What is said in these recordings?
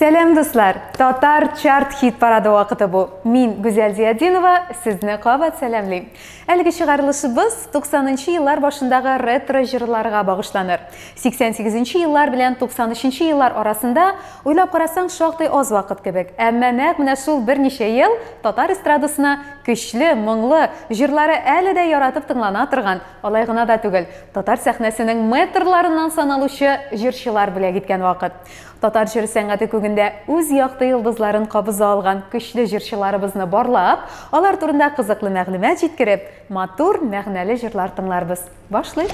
Сәлем дуслар! Татар чарт хит парады вакыты бу. Мин Гүзәл Зиядинова, сезне кабат сәламлим. Әлеге чыгарылышыбыз 90 нчы еллар башындагы ретро җырларга багышланыр. 88 нче еллар белән 93 нче еллар арасында, уйлап карасаң, шактый аз вакыт кебек. Әмма нәкъ менә шул берничә ел татар эстрадасына көчле, моңлы, җырлары әле дә яратып тыңлана торган, алай гына да түгел, татар сәхнәсенең мэтрларыннан саналучы җырчылар бүләк иткән вакыт. Татар җыр сәнгате күгендә үз якты йолдызларын кабыза алган көчле җырчыларыбызны барлап, алар турында кызыклы мәгълүмат җиткереп, матур, мәгънәле җырлар тыңларбыз. Башлыйк!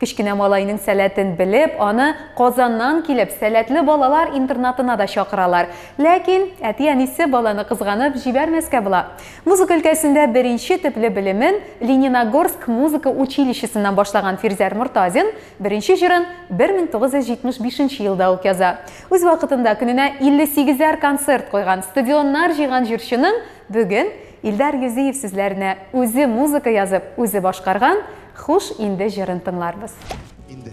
Кечкенә малайның сәләтен белеп, аны Казаннан килеп, сәләтле балалар интернатына да чакыралар. Ләкин әти-әнисе баланы кызганып җибәрмәскә була. Музыка өлкәсендә беренче төпле белемен Лениногорск музыка училищесыннан башлаган Фирзәр Мортазин беренче җырын 1975 нче елда ук яза. Үз вакытында көненә илле сигезәр концерт куйган, стадионнар җыйган җырчының бүген Илдар Юзиев сүзләренә үзе музыка язып, үзе башкарган Хуш инде җырын тыңларбыз. Инде.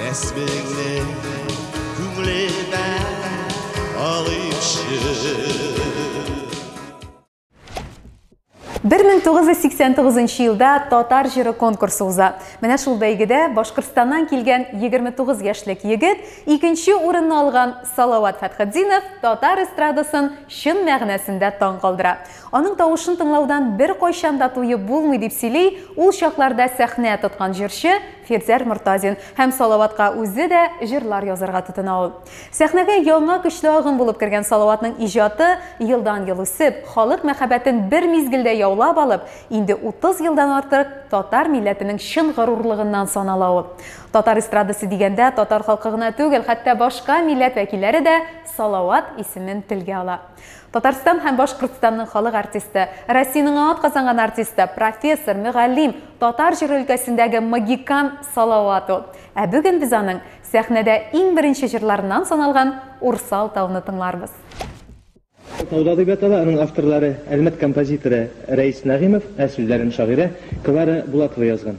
Рәсмеңне күңлемә алыймчы 1989 елда татар җыры конкурсы уза. Менә шул бәйгедә Башкортстаннан килгән 29 яшьлек егет икенче урынны алган Салават Фәтхетдинов татар эстрадасын чын мәгънәсендә таң калдыра. Аның тавышын тыңлаудан бер кайчан да туеп булмый дип сөйли ул чакларда сәхнә тоткан җырчы Фирдәр Мортазин һәм Салаватка үзе дә җырлар язарга тотына ул. Сәхнәгә яңа көчле агым булып кергән Салаватның иҗаты, елдан-ел үсеп, халык мәхәббәтен бер мизгелдә яулап алып, инде 30 елдан артык татар милләтенең чын горурлыгыннан санала ул. Татар эстрадасы дигәндә, татар халкы гына түгел, хәтта башка милләт вәкилләре дә Салават исемен телгә ала. Татарстан һәм Башкортстанның халык артисты, Россиянең ат казанган артисты, профессор, мөгаллим, татар җыры өлкәсендәге магикан Салават ул. Ә бүген без аның сәхнәдә иң беренче җырларыннан саналган Урсал тауны тыңларбыз. Тауда дип ятала, аның авторлары, Әлмәт композиторы Рәис Нәгыймов, ә сүзләрен шагыйрә Клара Булатова язган.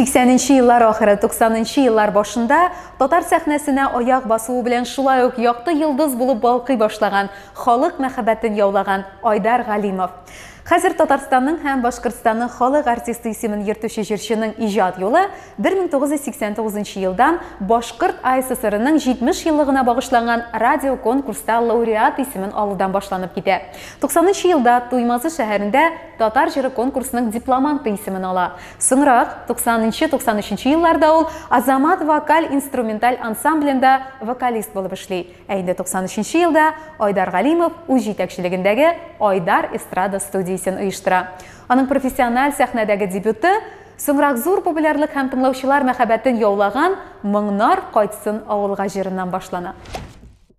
Сиксәненче еллар ахыры, туксанынчы еллар башында татар сәхнәсенә аяк басуы белән шулай ук якты йолдыз булып балкый башлаган, халык мәхәббәтен яулаган Айдар Галимов. Хәзер Татарстанның һәм Башкортстанның халык артисты исемен йөртүче җырчының иҗат юлы 1989 елдан Башкорт АССРның 70 еллыгына багышланган радиоконкурста лауреат исемен алудан башланып китә. Туксанынчы елда Туймазы шәһәрендә Татар җыры конкурсының дипломанты исемен ала. Соңрак, 90 нчы, 93 нчы елларда ул Азамат вокаль-инструменталь ансамблендә вокалист булып эшли, ә инде 93 нчы елда Айдар Галимов үз җитәкчелегендәге Айдар эстрада студиясен оештыра. Аның профессиональ сәхнәдәге дебюты, соңрак зур популярлык һәм тыңлаучылар мәхәббәтен яулаган Моңнар кайтсын авылга җырыннан башлана.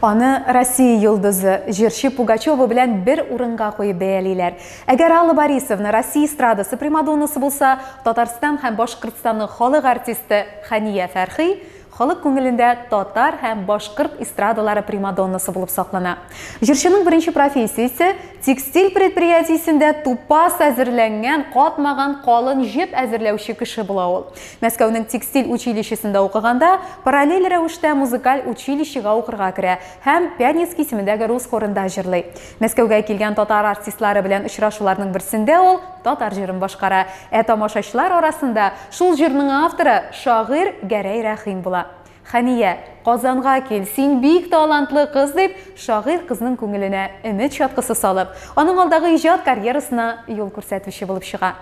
Аны Россия йолдызы, җырчы Пугачева белән бер урынга куеп бәялиләр. Әгәр Алла Борисовна Россия эстрадасы примадоннасы булса, Татарстан һәм Башкортстанның халык артисты Хәния Фәрхи халык күңелендә татар һәм башкорт эстрадалары примадоннасы булып саклана. Җырчының беренче профессиясе текстиль предприятиесендә тупас әзерләнгән, катмаган калын җеп әзерләүче кеше була ул. Мәскәүнең текстиль училищесында укыганда, параллель рәвештә музыкаль училищега укырга керә һәм Пянецк исемендәге рус хорында җырлый. Мәскәүгә килгән татар артистлары белән очрашуларның берсендә ул татар җырын башкара, ә тамашачылар арасында шул җырның авторы, шагыйрь Гәрәй Рәхим була. Хәния, Казанга кил, син бик талантлы кыз, дип, шагыйрь кызның күңеленә өмет чаткысы салып, аның алдагы иҗат карьерасына юл күрсәтүче булып чыга.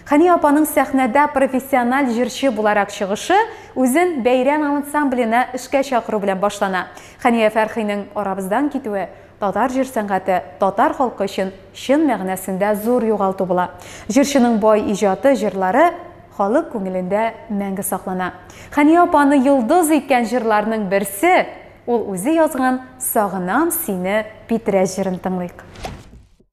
Хәния апаның сәхнәдә профессиональ җырчы буларак чыгышы үзен бәйрәм ансамбленә эшкә чакыру белән башлана. Хәния Фәрхинең арабыздан китүе татар җыр сәнгате, татар халкы өчен чын мәгънәсендә зур югалту була. Җырчының бай иҗаты, җырлары халык күңелендә мәңге саклана. Хәния апаны йолдыз иткән җырларның берсе, ул үзе язган Сагынам сине, Питрәч җырын тыңлыйк.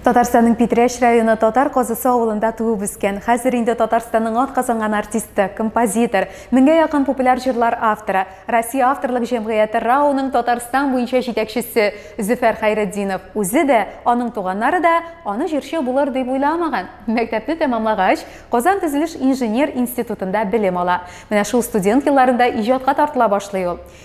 Татарстанның Питрәч районы Татар Казысы авылында туып үскән, хәзер инде Татарстанның ат казанган артисты, композитор, меңгә якын популяр җырлар авторы, Россия авторлык җәмгыяте РАОның Татарстан буенча җитәкчесе Зөфәр Хәйретдинов үзе дә, аның туганнары да аны җырчы булыр дип уйламаган. Мәктәпне тәмамлагач, Казан төзелеш инженер институтында белем ала. Менә шул студент елларында иҗатка тартыла башлый ул.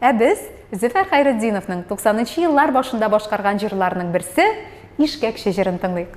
Ә без Зөфәр Хәйретдиновның 90 нчы еллар башында башкарган җырларының берсе, Ишкәкче җырын тыңлыйк.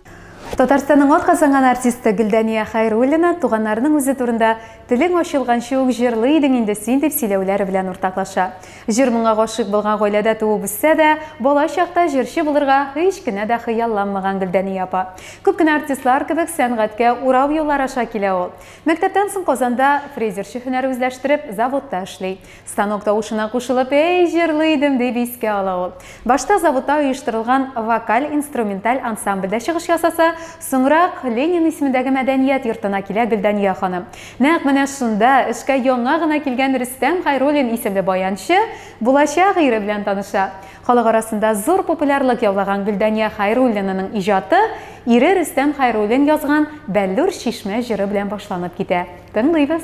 Татарстанның атказанган артисты Гөлдания Хәйруллина туганнарының үзе турында Телең ачылганчы ук җырлый идең инде син дип сөйләүләре белән уртаклаша. Җыр моңа гашыйк булган гаиләдә туып үссә дә, бала чакта җырчы булырга һич кенә дә хыялланмаган Гөлдания апа. Күп кенә артистлар кебек сәнгатькә урау юллар аша килә ул. Мәктәптән соң Казанда фрезерчы һөнәр үзләштереп, заводта эшли. Станок тавышына кушылып, әй, җырлый идем, дип искә ала ул. Башта заводта оештырылган вокаль-инструменталь ансамбльдә чыгыш ясаса, соңрак Ленин исемендәге мәдәният йортына килә Гөлдания ханым. Нәкъ менә шунда эшкә яңа гына килгән Рөстәм Хайруллин исемле баянчы булачак ире белән таныша. Халык арасында зур популярлык яулаган Гөлдания Хайруллинаның иҗаты ире Рөстәм Хайруллин язган Бәллүр чишмә җыры белән башланып китә. Тыңлыйбыз.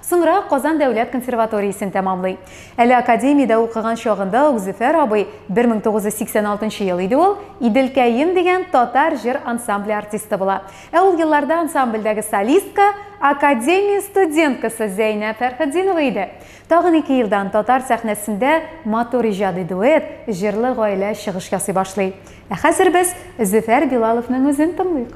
Соңрак Казан дәүләт консерваториясен тәмамлый. Әле академиядә укыган чагында ук Зөфәр абый, 1986 ел иде ул, Иделкәем дигән татар җыр ансамбле артисты була. Ә ул елларда ансамбльдәге солистка академия студенткасы Зәйнәб Фәрхетдинова иде. Тагын ике елдан татар сәхнәсендә матур иҗади дуэт, җырлы гаилә чыгыш ясый башлый. Ә хәзер без Зөфәр Билаловның үзен тыңлыйк.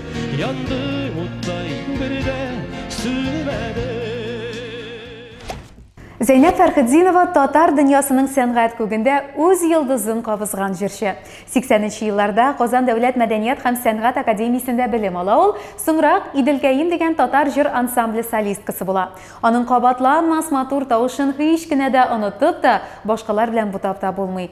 Янды уттай бер дә сүнмәде. Зәйнәп Фәрхетдинова татар дөньясының сәнгать күгендә үз йолдызын кабызган җырчы. 80 нче елларда Казан дәүләт мәдәният һәм сәнгать академиясендә белем ала ул, соңрак Иделкәем дигән татар җыр ансамбле солисткасы була. Аның кабатланмас матур тавышын һич кенә дә онытып та, башкалар белән бутап та булмый.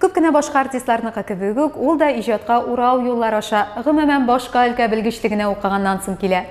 Күп кенә башка артистларныкы кебек үк, ул да иҗатка урау юллар аша, гомумән, башка өлкә белгечлегенә укыганнан соң килә.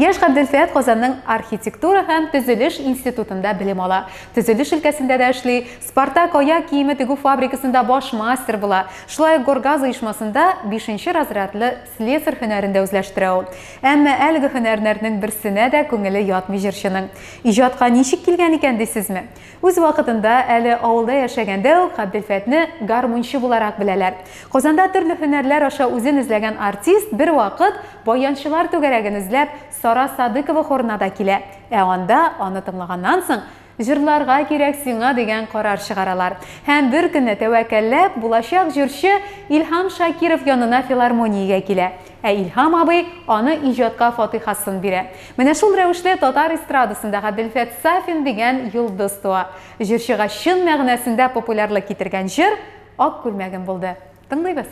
Яшь Габделфәт Казанның архитектура һәм төзелеш институтында белем ала, төзелеш өлкәсендә дә эшли, Спартак аяк киеме тегү фабрикасында баш мастер була, шулай ук Горгаз оешмасында бишенче разрядлы слесарь һөнәрен дә үзләштерә ул. Әмма әлеге һөнәрнәрнең берсенә дә күңеле ятмый җырчының. Иҗатка ничек килгән икән, дисезме? Үз вакытында, әле авылда яшәгәндә үк Габделфәтне гармунчы буларак беләләр. Казанда төрле һөнәрләр аша үзен эзләгән артист бервакыт, баянчылар түгәрәген эзләп, Сара Садыкова хорына да килә. Ә анда, аны тыңлаганнан соң, Җырларга кирәк сиңа, дигән карар чыгаралар. Һәм беркөнне, тәвәккәлләп, булачак җырчы Илһам Шакиров янына филармониягә килә. Ә Илһам абый аны иҗатка фатыйхасын бирә. Менә шул рәвешле татар эстрадасында Гаделфәт Сафин дигән йолдыз туа. Җырчыга чын мәгънәсендә популярлык китергән җыр Ак күлмәгем булды. Тыңлыйбыз.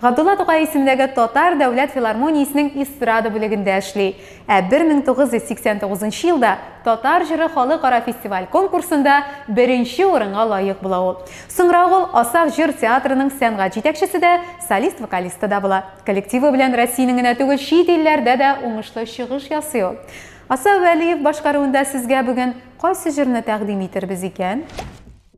Габдулла Тукай исемендәге Татар дәүләт филармониясенең эстрада бүлегендә эшли. Ә 1989 нчы елда Татар җыры халыкара фестиваль-конкурсында беренче урынга лаек була ул. Соңрак ул Асаф җыр театрының сәнгать җитәкчесе дә, солист-вокалисты да була. Коллективы белән Россиянең генә түгел, чит илләрдә дә уңышлы чыгыш ясый ул. Асаф Вәлиев башкаруында сезгә бүген кайсы җырны тәкъдим итербез икән?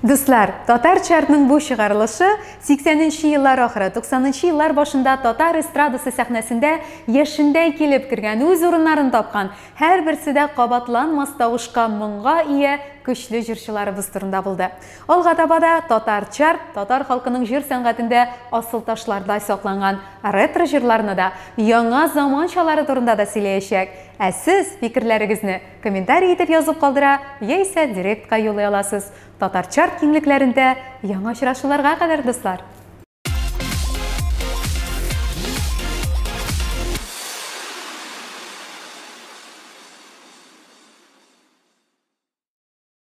Дуслар, татар чартның бу чыгарылышы 80-нче еллар ахыры, 90-нчы еллар башында татар эстрадасы сәхнәсендә яшендәй килеп кергән, үз урыннарын тапкан, һәрберсе дә кабатланмас тавышка, моңга ия көчле җырчыларыбыз турында булды. Алга таба да татар чарт, татар халкының җыр сәнгатендә асыл ташлардай сакланган ретро җырларны да, яңа заманчалары турында да сөйләячәк. Ә сез фикерләрегезне комментарий итеп язып калдыра яисә директка юллый аласыз. Татар чарт киңлекләрендә яңа очрашуларга кадәр, дуслар!